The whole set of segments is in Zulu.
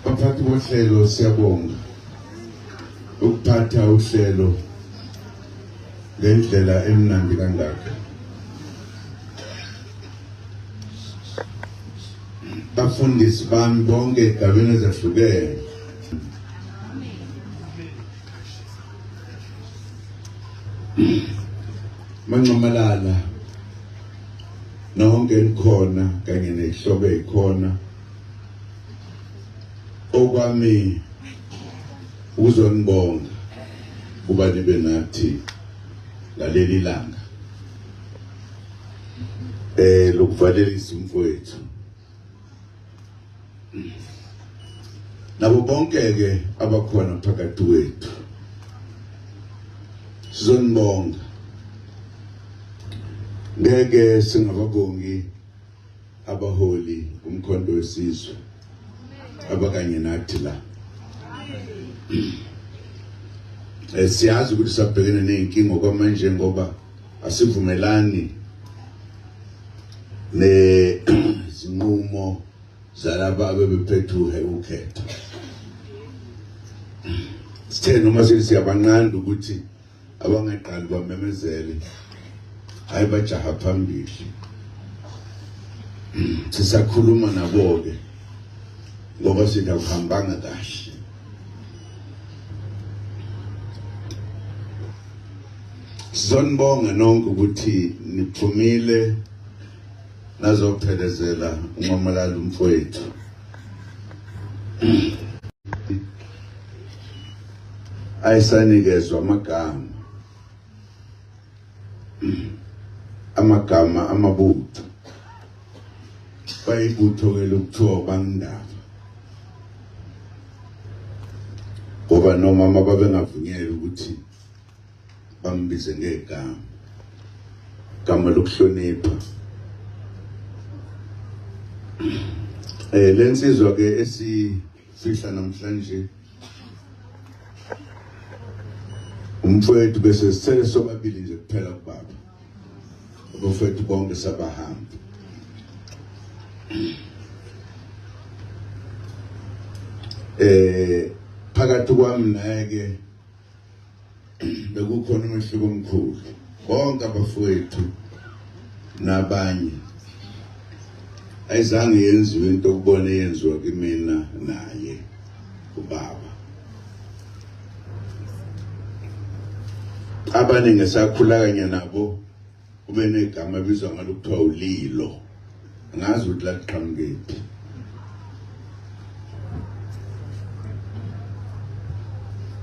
Baphathi bohlelo siyabonga ukuphatha uhlelo ngendlela emnandi kangaka. Bafundisi bami bonke egabeni ezahlukene. Mancomalala nonke likhona kanye nehloko ekhona okwami ukuzonibonga kuba nibe nathi ngaleli langa eh lokuvalelisa umfowethu nabo bonke ke abakhona phakathi kwethu sizonibonga ngeke singababongi abaholi umkhonto wesizwe abakanye nathi la eh, siyazi ukuthi sabhekene ney'nkinga okwamanje ngoba asivumelani nezinqumo zalaba abebephethe ukhetho sithe noma sithi siyabanqanda ukuthi abangaqali bamemezele hayi bajaha phambili sisakhuluma nabo-ke ngoba sithi akuhambanga kahle sizonibonga nonke ukuthi niphumile nazophelezela unqomalala umfowethu ayisanikezwa amagama amagama amabutho bayibutho ke lokuthiwa bangindaba ngoba nomama babengavunyelwe ukuthi bambize ngegama gama lokuhlonipha eh lensizwa ke esi fihla namhlanje umfowethu bese sithele sobabili nje kuphela kubaba abafowethu bonke sabahamba eh phakathi kwami naye ke bekukhona umehluko omkhulu bonke abafowethu nabanye ayizange yenziwe into okubona yenziwa kimina naye ubaba abaningi sakhula kanye nabo ube negama ebizwa ngalo kuthiwa ulilo angazi ukuthi laqhamukephi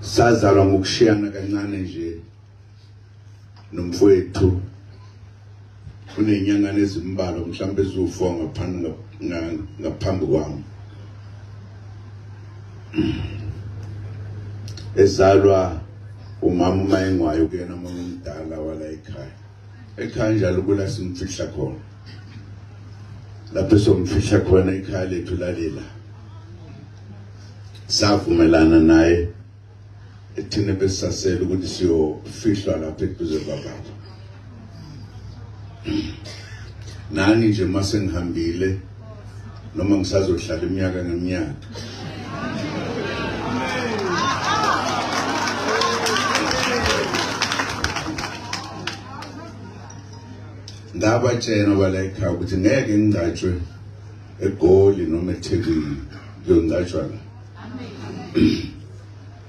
sazalwa ngokushiyana kancane nje nomfowethu unenyangane ezimbalwa mhlawumbe eziwu-fo ngaphambi ngaphambi kwami ezalwa umama uma engwayo kuyena umuntu omdala wala ekhaya ekhaya njalo kula simfihla khona lapho somfihla khona ekhaya lethu lalela savumelana naye ethina besasela ukuthi siyofihlwa lapha eduze kwababa nani nje uma sengihambile noma ngisazohlala iminyaka ngeminyaka ngabatshena balayikha ukuthi ngeke ngingcatshwe egoli noma ethekwini kuyongcatshwa la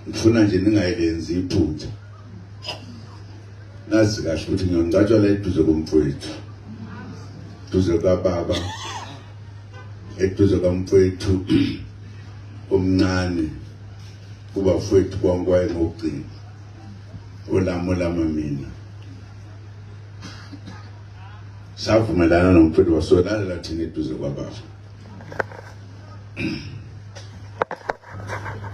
ngifuna nje ningayilenzi iphutha ngazi kahle ukuthi ngiyongcatshwa la eduze komfowethu duze kababa eduze kamfowethu omncane kubafowethu konke wayengogcina olami olama mina savumelana nomfowethu wasolalela thina eduze kwababa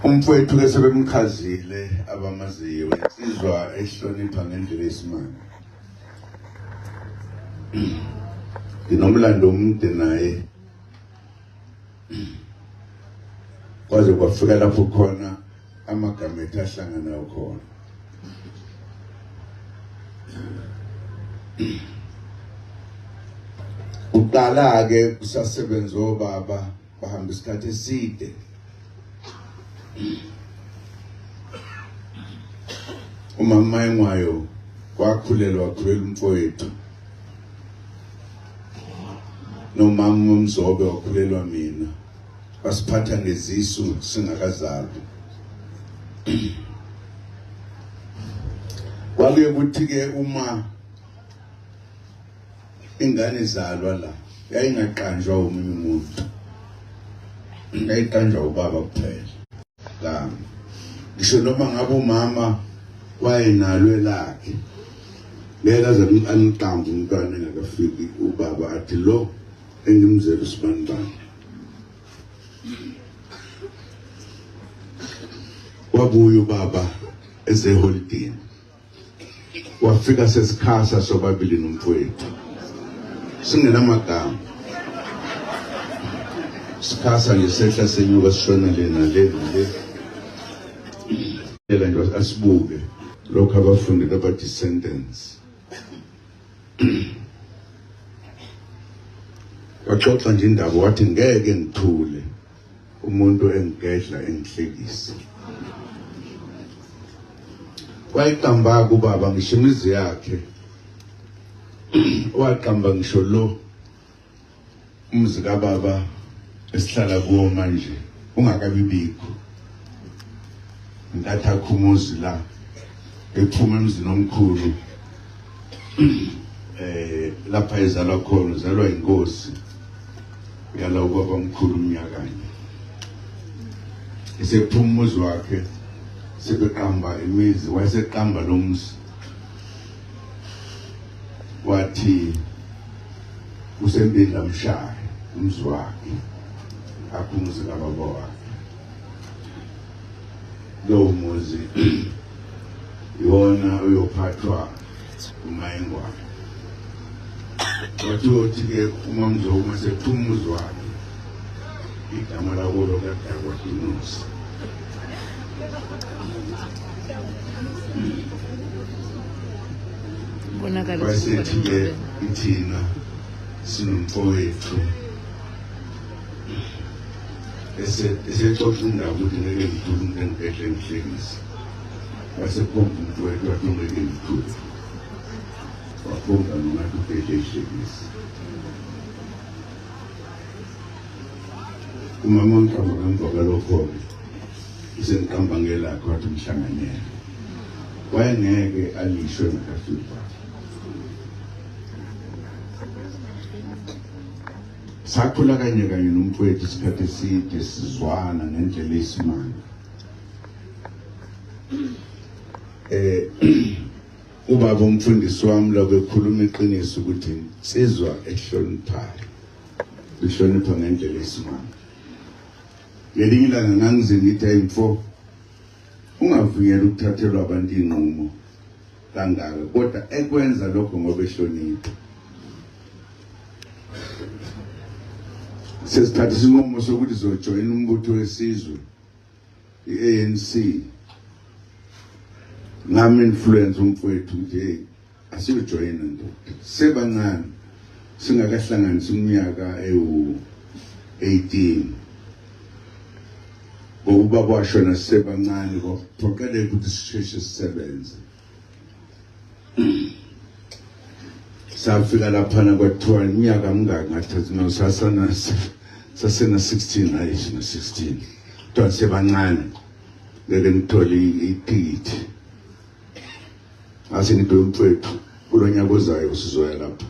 umfowethu ke sebemchazile abamaziyo insizwa ehlonipha ngendlela yesimanje nginomlando omude naye kwaze kwafika lapho khona amagama ethu ahlangana ukhona uqala ke kusasebenza obaba bahamba isikhathi eside umama engwayo wakhulelwa wakhulela umfowethu nomama umzobe wakhulelwa mina basiphatha ngezisu singakazalwa kwake kuthi ke uma ingane izalwa la yayingaqanjwa omunye umuntu yayiqanjwa ubaba kuphela la ngisho noma ngabe umama wayenalo elakhe ngeke aze aniqambe umntwana engakafiki ubaba athi lo engimzela usibanibani wabuya ubaba ezeholidini wafika sesikhasa sobabili nomfowethu singenamagama sikhasa nje sehla senyuka sishona le nale nale ela nje asibuke lokho abafundi baba descendants waxoxa nje indaba wathi ngeke ngithule umuntu engigedla engihlekisa wayiqamba kubaba ngisho imizi yakhe waqamba ngisho lo Umzi kababa esihlala kuwo manje ungakabi bikho. Ntatha khumuzi la ephuma emzini omkhulu eh lapha ezalwa khona uzalwa inkosi yala ubaba omkhulu umnyakanye esephuma umuzi wakhe sebeqamba imizi wayeseqamba lo muzi wathi usempinda mshaya umzi wakhe aphumuze kababa wakhe lowo muzi iwona uyophathwa umayengwane wathi othi-ke umamzowu masephumuzi wakhe igama lakulo kadakwa inusi basethi-ke ithina sinomfowethu esexoxa indaba ukuthi ngeke ngithule umuntu engibhehle ngihlekise wasekhomba umfowethu wathi ungeke ngithule wakhomba nongathi ubhehle ihlekise umama ongiqamba ngemva kwalokho-ke usengiqamba ngelakhe wathi umhlanganyela wayengeke alishwe ngakafiki kwakhe sakhula kanye kanye nomfowethu isikhathi eside sizwana ngendlela eyisimanga eh Ubaba umfundisi wami lokho ekhuluma iqiniso ukuthi insizwa ehloniphayo ihlonipha ngendlela esimanga. Ngelinye ilanga ngangize ngithi ayimfo ungavunyelwa ukuthathelwa abantu inqumo kangaka kodwa ekwenza lokho ngoba ehlonipha. Sesithatha isinqumo sokuthi zojoyina umbutho wesizwe. i-anc ngam-influence umfowethu nje asiyojoyina ndoda sebancane singakahlanganisi umnyaka ewu-18 ngokuba kwashona sisebancane kwaphoqeleka ukuthi sisheshe sisebenze safika laphana kwathiwa iminyaka mingaki ngathathi no sasana sasena 16 hayi sina 16 kuthiwa sebancane ngeke ngithole ithikithi ngase ngidwe mfethu kulo nyaka ozayo sizoya lapha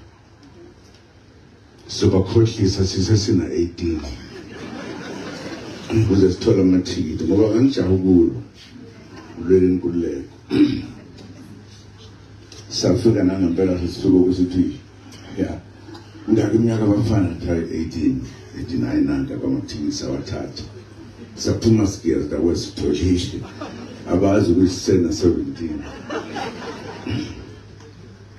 sobakhohlisa sisesina 18 ukuze sithole amathikithi ngoba kangijaha ukulo ulwele inkululeko safika nangempela sesisuka ukuthi ya ngaka iminyaka abafana thai 18 89 nanka kwamathikithi sawathatha saphuma sigiya zakwesitholishe abazi ukuthi sisena 17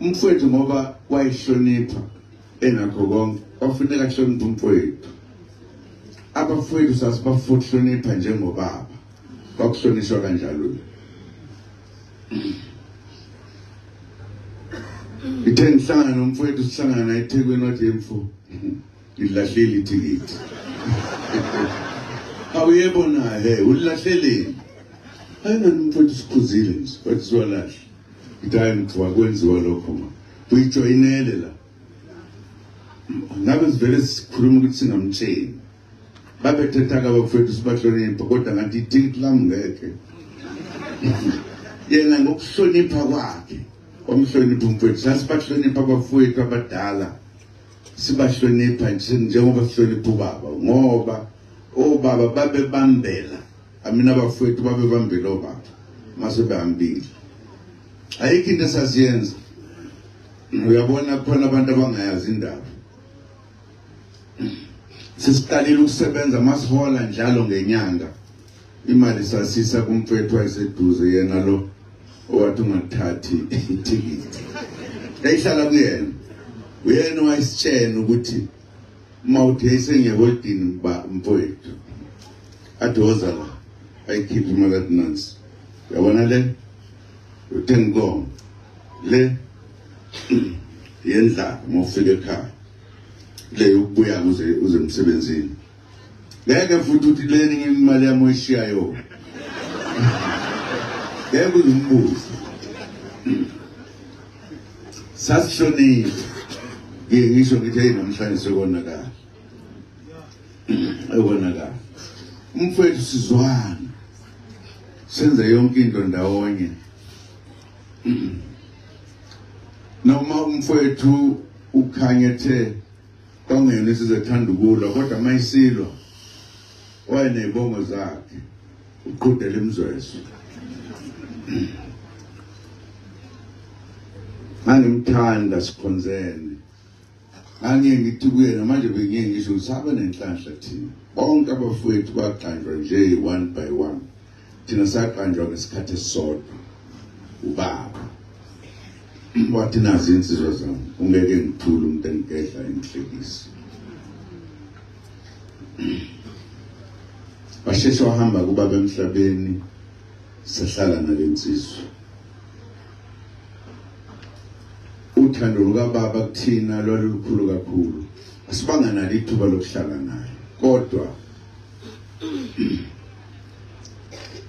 umfowethu ngoba wayihlonipha enakho konke wafuneka ahloniphe umfowethu abafowethu sasibafuhlonipha njengobaba kwakuhlonishwa kanjalo ithe ngihlangana nomfowethu sihlangana naye ethekwini wathi yemfo ngilahlile ithikithi awuyebona he ulilahleleni ayingani umfowethu sikhuzile nje wathi siwalahle Ngithayi ngithiwa kwenziwa lokho ma. Uyijoyinele la. Ngabe sivele sikhuluma ukuthi singamtsheni. Babethetha ka bafethu sibahlonipha kodwa ngathi ithikithi lami ngeke. Yena ngokuhlonipha kwakhe. Omhlonipha umfethu sasibahlonipha abafowethu abadala. Sibahlonipha njengoba sihlonipha ubaba ngoba obaba babebambela amina abafowethu babebambile obaba mase behambile ayikho into esasiyenza uyabona kukhona abantu abangayazi indaba sisiqalile ukusebenza masihola njalo ngenyanga imali sasisa kumfethu wayeseduze yena lo owathi ungathathi ithikithi yayihlala kuyena uyena wayesitshena ukuthi uma uthi esengiyakoldini ba mfowethu athi woza la ayikhiphe imali athi nansi yabona le uthenga inkomo le yendlala uma ufika ekhaya le yokubuya uze uze emsebenzini ngeke futhi uthi le ninye imali yami oyishiyayo ngeke uzimbuze sasishonile ngeke ngisho ngithi hey namhlanje sekonakala ekonakala umfowethu sizwana senze yonke into ndawonye noma umfowethu ukhanye ethe kwangena isizethanda ukulwa kodwa mayisilwa wayenezibongo zakhe uqhudela imzwezwe ngangimthanda sikhonzene ngangiye ngithi kuyena manje bengiye ngisho usaba nenhlanhla thina bonke abafowethu baqanjwa nje one by one thina saqanjwa ngesikhathi esisodwa ubaba wathi nazi insizwa zami ungeke ngithule umuntu engigedla engihlekisa washeshe wahamba kubaba emhlabeni sahlala nale nsizwa uthando lukababa kuthina lwalukhulu kakhulu asibanga nalo ithuba lokuhlala naye kodwa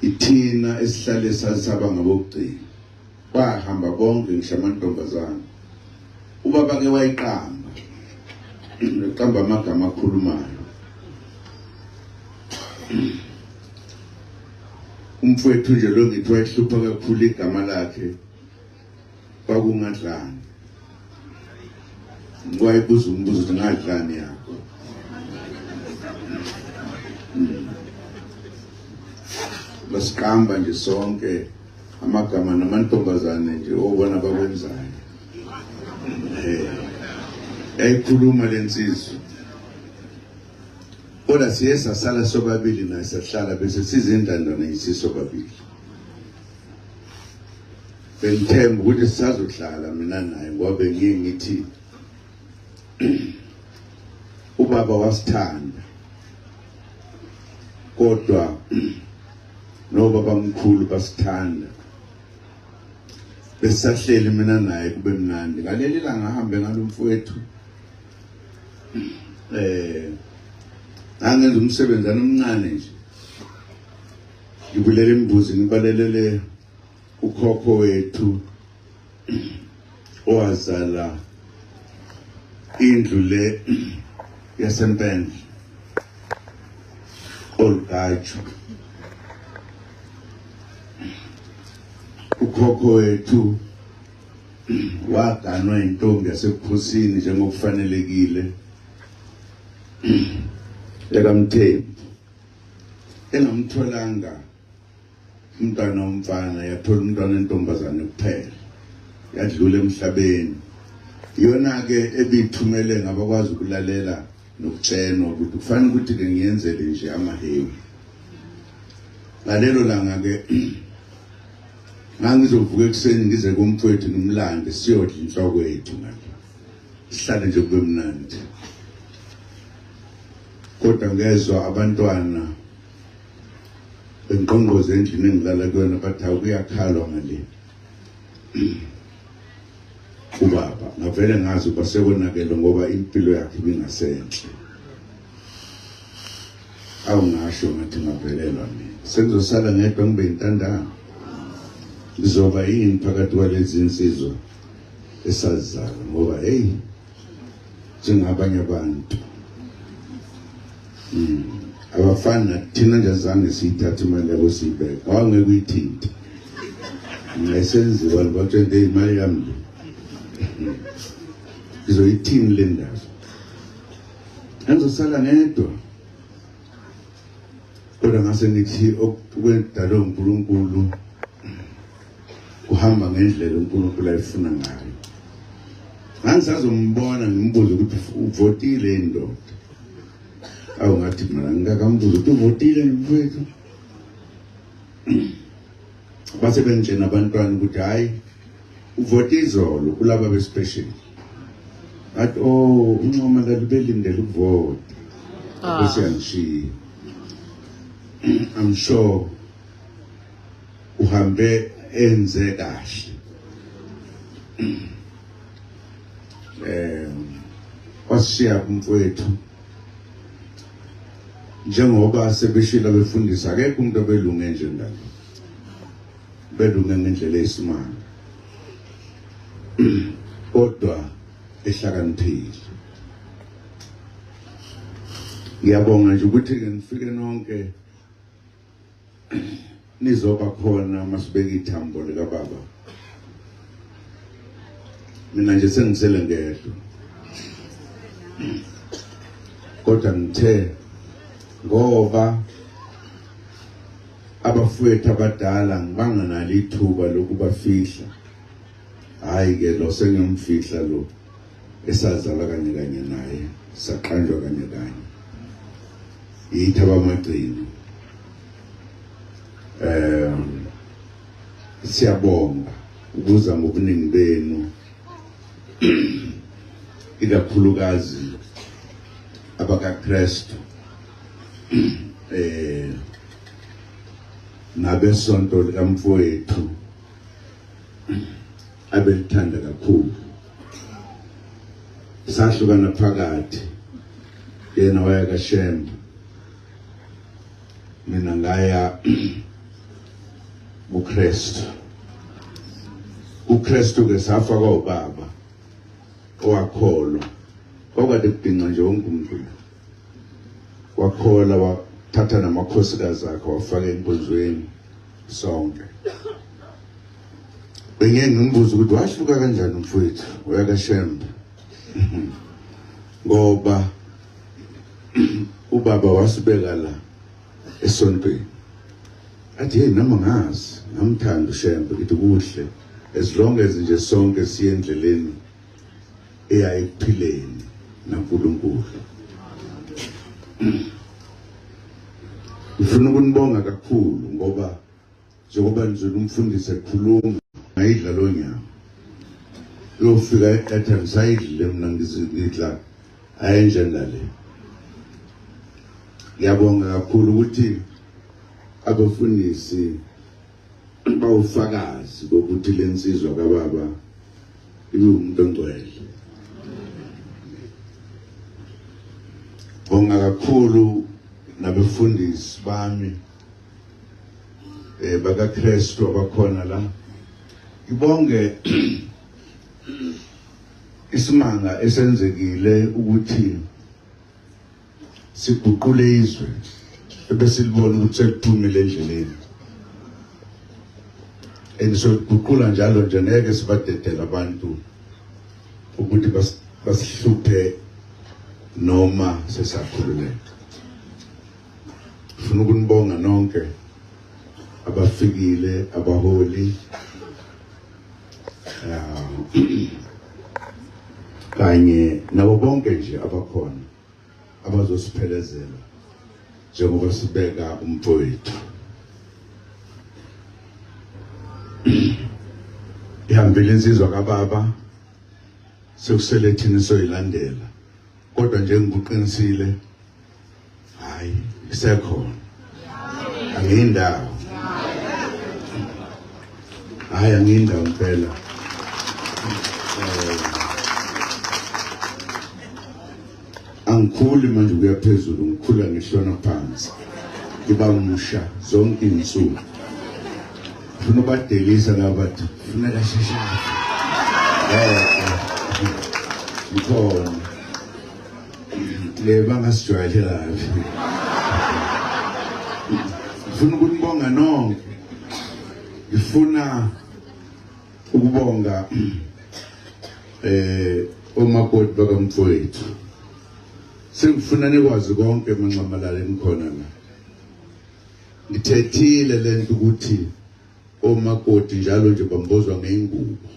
ithina esihlale sasaba ngabokugcina bahamba bonke ngisho amantombazane ubaba ke wayiqamba eqamba amagama akhulumayo umfowethu nje lo ngithi wayehlupha kakhulu igama lakhe kwakungadlani wayebuza umbuzo ukuthi ngadlani yakho hmm. basiqamba nje sonke amagama namantombazane nje obona bakwenzayo eh yayikhuluma lensizwa kodwa siye sasala sobabili naye sahlala bese sizindandana isiso babili bengithemba ukuthi sisazohlala mina naye ngoba bengiye ngithi ubaba wasithanda kodwa noba bamkhulu basithanda besahleli mina naye kube mnandi ngaleli langa ahambe ngalomfowethu eh angenza umsebenzi anomncane nje ngibulele imbuzi ngibalelele ukhokho wethu owazala indlu le yasempendle olugaju ukhokho wethu waganwa intombi yasebukhosini njengokufanelekile ekamthembu engamtholanga umntwana womfana yathola umntwana entombazane kuphela yadlula emhlabeni iyona-ke ebiyithumele ngabakwazi ukulalela nokutshenwa ukuthi kufanele ukuthi-ke ngiyenzele nje amahewu ngalelo langa-ke ngangizovuka ekuseni ngize kumfowethu ngimlande siyodla inhloko yethu ngale sihlale nje kube mnandi kodwa ngezwa abantwana bengqongqoze endlini engilala kuyona bathi awukuyakhalwa ngale ubaba ngavele ngazi uba sekonakele ngoba impilo yakhe ibingasenhle awungasho ngathi ngavelelwa mina sengizosala ngedwa ngibe yintandana ngizoba yini phakathi kwalezi nsizwa esazizala ngoba heyi njengabanye abantu mm abafani nathina nje zange siyithathe imali yabo siyibeka awangeke uyithinte ngayisenziwa libatshente imali yami hmm. ngizoyithini le ndaba angizosala ngedwa kodwa ngase ngithi okwedalwe uNkulunkulu kuhamba ngendlela uNkulunkulu ayifuna ngayo ngangisazombona ngimbuze ukuthi uvotile indoda awu ngathi mina ngikakambuze ukuthi uvotile mfethu base benitshena abantwana ukuthi hhayi uvote izolo kulaba bespecial athi o oh, uncoma lalibelindele ukuvota ah. bese yangishiya i'm sure uhambe enze kahle um wasishiya kumfowethu njengoba sebeshilo abefundisi akekho umuntu obelunge njengalo belunge ngendlela eyisimanga kodwa ehlakaniphile ngiyabonga nje ukuthi-ke nifike nonke nizoba khona uma sibeka ithambo likababa mina nje sengisele ngedwa kodwa ngithe ngoba abafowethu abadala ngibanganalo ithuba lokubafihla Hayi ke lo sengiyomfihla lo esazalwa kanye kanye naye saqanjwa kanye kanye yithi abamagcini um siyabonga ukuza ngobuningi benu ikakhulukazi abakaKristu eh nabesonto likamfowethu abelithanda kakhulu sahlukana phakathi yena waya kaShembe mina ngaya kuKristu uKristu ke safa kwaubaba owakholwa kwakade kubhinca nje wonke umuntu wakhola wathatha namakhosikazi akhe wafaka enkonzweni sonke bengiye ngimbuza ukuthi wahluka kanjani umfowethu uyakashembe ngoba ubaba wasibeka la esontweni athi hey noma ngazi ngamthanda ushembe ngithi kuhle as long as nje sonke siye endleleni eya ekuphileni naNkulunkulu ngifuna ukunibonga kakhulu ngoba njengoba nizwela umfundisi ekhuluma ngayidla lo nyama yofika eqatha ngisayidlile mina ngizidla ayenjena le ngiyabonga kakhulu ukuthi abafundisi bawufakazi bokuthi lensizwa kababa iwumuntu ongcwele bonga kakhulu nabefundisi bami eh bakaKristu abakhona la ibonge isimanga esenzekile ukuthi siguqule izwe ebesilibona ukuthi sekuphumile endleleni and sokuguqula njalo nje ngeke sibadedele abantu ukuthi basihluphe noma sesakhululeka ngifuna ukunibonga nonke abafikile abaholi kanye nabo bonke nje abakhona abazosiphelezela njengoba sibeka umfowethu ihambile insizwa kababa sekusele thina soyilandela kodwa njengokuqinisile hayi isekhona angiyindawo hayi angiyindawo impela eh, angikhuli manje kuya phezulu ngikhula ngihlona phansi ngiba musha zonke iy'nsuku funa ubadelisa laba bathi funeka sheshae eh, eh, ngikhona bangasijwayele kabi ngifuna ukunibonga nonke ngifuna ukubonga eh omakoti bakamfowethu sengifuna nikwazi konke emanxamalala enikhona la ngithethile lento ukuthi omakoti njalo nje bambozwa ngeingubo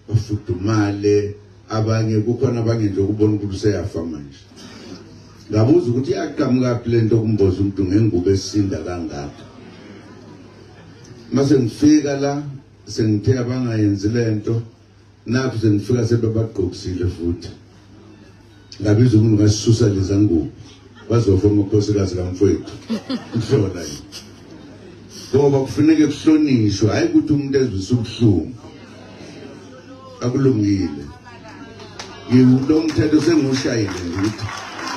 bafudumale abanye kukhona abanye nje ukubona ukuthi useyafa manje ngabuza ukuthi iyaqhamukaphi le nto kumboza umuntu ngengubo esinda kangaka mase ngifika la sengithe abangayenzi le nto nakho sengifika sebebagqokisile futhi Ngabiza umuntu ngasisusa leza ngubo. Bazofa amakhosikazi kamfowethu. Kuhlola yini? Ngoba kufuneka kuhlonishwe hayi ukuthi umuntu ezwise ubuhlungu. Akulungile. Ngiwulo mthetho sengiwushayile ukuthi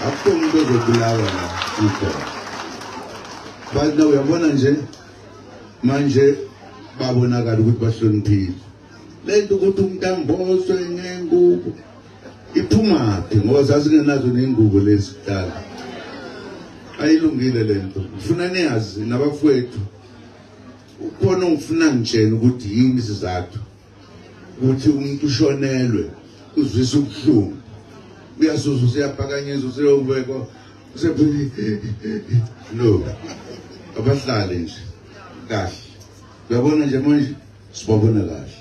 akukho umuntu ozobulawa la ikhona. Bathi uyabona nje manje babonakala ukuthi bahloniphile. Lento ukuthi umuntu amboswe ngengubo iphumaphi ngoba zazingenazo ney'ngubo lezi kudala ayilungile le nto ngifuna niyazi nabafowethu ukhona ongifuna ngitshena ukuthi yini isizathu ukuthi umuntu ushonelwe uzwisa ubuhlungu uyasuza useyapakanyiswa useyobekwa usepheli no abahlale nje kahle uyabona nje manje sibabona kahle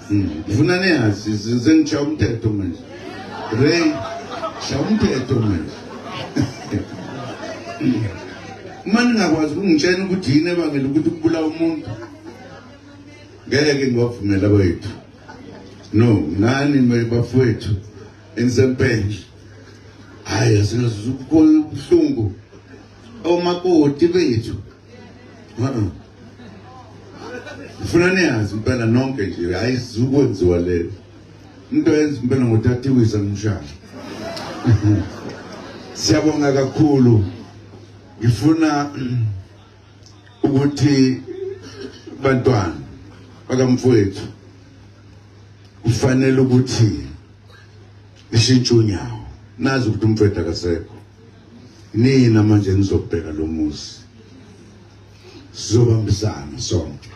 hmm, ngifuna niyazi sengishaya umthetho manje ray shaya umthetho manje uma ningakwazi ukungitshena ukuthi yini ebangela ukuthi kubulawa umuntu ngeke ngiwavumela kwethu no nani bafowethu enisempendle hhayi asingazukubuhlungu omakoti bethu Uh-uh. Ngifuna niyazi impela nonke nje hayi zukwenziwa le into yenza impela ngothathiwisa ngimshaya. Siyabonga kakhulu. Ngifuna ukuthi bantwana bakamfowethu kufanele ukuthi ishintshe unyawo nazi ukuthi umfowethu akasekho nina manje nizobheka lo muzi sizobambisana sonke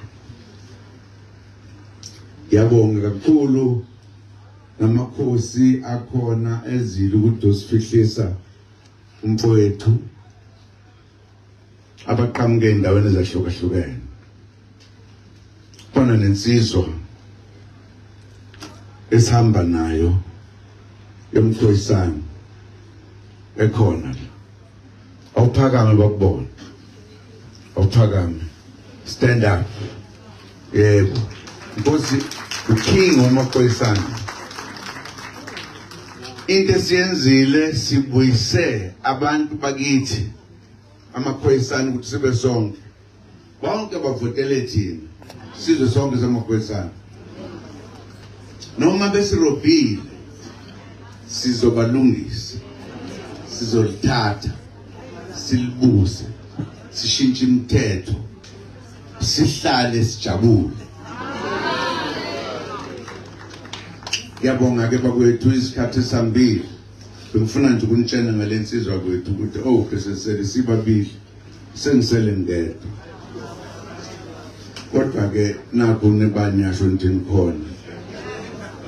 yabonga kakhulu namakhosi akhona ezile ukuthi usifihlisa umfowethu abaqhamuke endaweni ezahlukahlukene khona nensizwa esihamba nayo emthoyisana ekhona la awuphakame bakubona awuphakame stand up yebo nkosi uking wamaphoyisana into esiyenzile sibuyise abantu bakithi amaphoyisana ukuthi sibe sonke bonke bavotele thina sizwe sonke samaphoyisana noma besirobhile sizobalungisa sizolithatha silibuse sishintshe imithetho sihlale sijabule ngiyabonga ke bakwethu isikhathi sambili Bengifuna nje ukunitshena ngale nsizwa kwethu ukuthi oh besesele sibabili sengisele ngedwa. Kodwa ke nakho nibani yasho nje nikhona.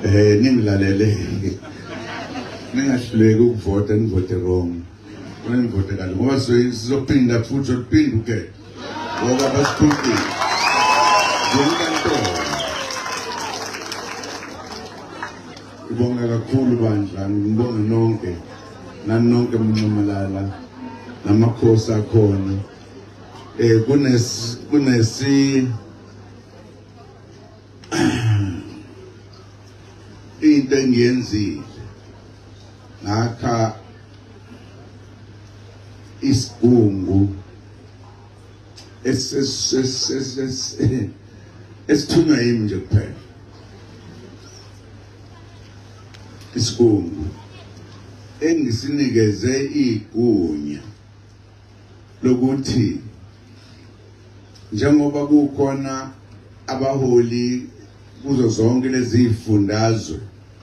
Eh ningilalele. Ningahluleki ukuvota nivote wrong. Nivote kanti ngoba sizophinda futhi uphinde uke. Ngoba basiphukile. Ngoba Ngibonga kakhulu bandla, ngibonga nonke nanonke mnxamalala namakhosi akhona eh kunes kunesi into engiyenzile ngakha isigungu esithunywa yimi nje kuphela isibongo engisinikeze igunya lokuthi njengoba kukhona abaholi kuzo zonke lezi zifundazwe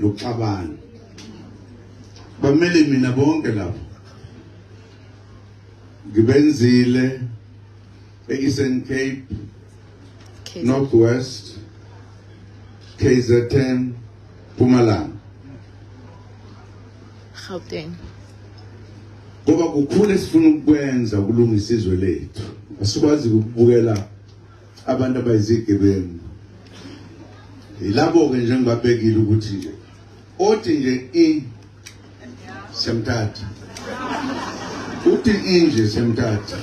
nokuxabana bamele mina bonke lapho ngibenzile e-Eastern Cape Northwest KZN Mpumalanga Gauteng ngoba kukhulu esifuna ukwenza ukulungisa izwe lethu asikwazi ukubukela abantu abayizigebengu yilabo-ke nje ngibabekile ukuthi nje othi nje i semthatha uthi inje semthatha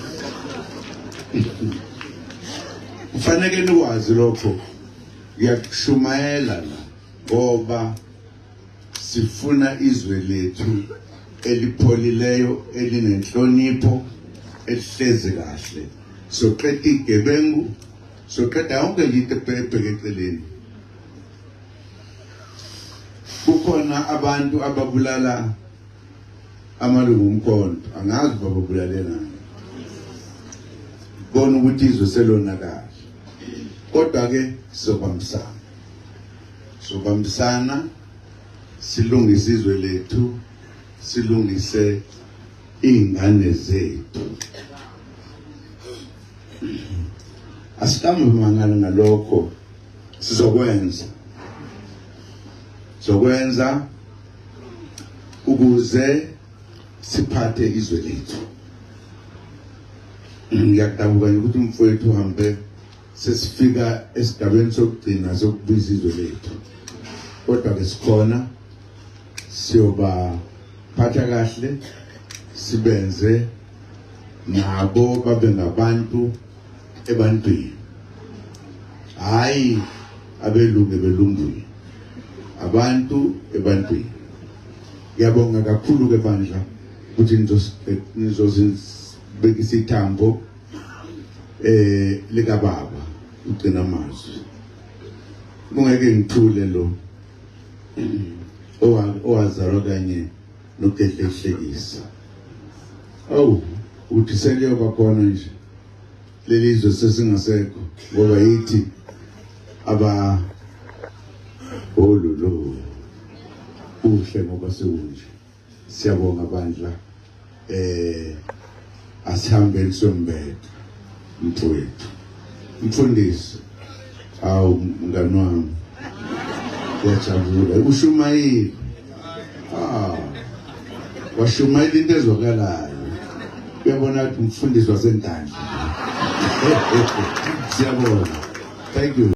kufaneke nikwazi lokho ngiyakushumayela la ngoba Sifuna izwe lethu elipholileyo elinenhlonipho elihlezi kahle soqeda igebengu soqeda yonke into ebheke eceleni kukhona abantu ababulala amalungu omkhonto angazi bababulalenani bona ukuthi izwe selonakala kodwa-ke sobamsana sobambisana silungise izwe lethu silungise iy'ngane zethu asikambi mangala ngalokho sizokwenza zokwenza ukuze siphathe izwe lethu ngiyakudabuka ukuthi umfowethu uhambe sesifika esigabeni sokugcina sokubiza izwe lethu kodwa ke sikhona siyoba phatha kahle sibenze nabo babe ngabantu ebantwini hayi abelungu ebelungwini abantu ebantwini ngiyabonga kakhulu ke bandla ukuthi nizosibekisa ithambo eh lika baba ugcina amazwi kungeke ngithule lo owazalwa kanye nokudedlehlekisa awu uthi seliyoba khona nje leli zwe sesingasekho ngoba yithi aba ololo kuhle ngoba sekunje Siyabonga bandla. Eh asihambeni sombetha mfowethu. Mfundisi awu mngani wami. Yajabula ushumayile. Ah. Washumayila into ezwakalayo. Uyabona ukuthi umfundisi wasentandla. Siyabonga. Thank you.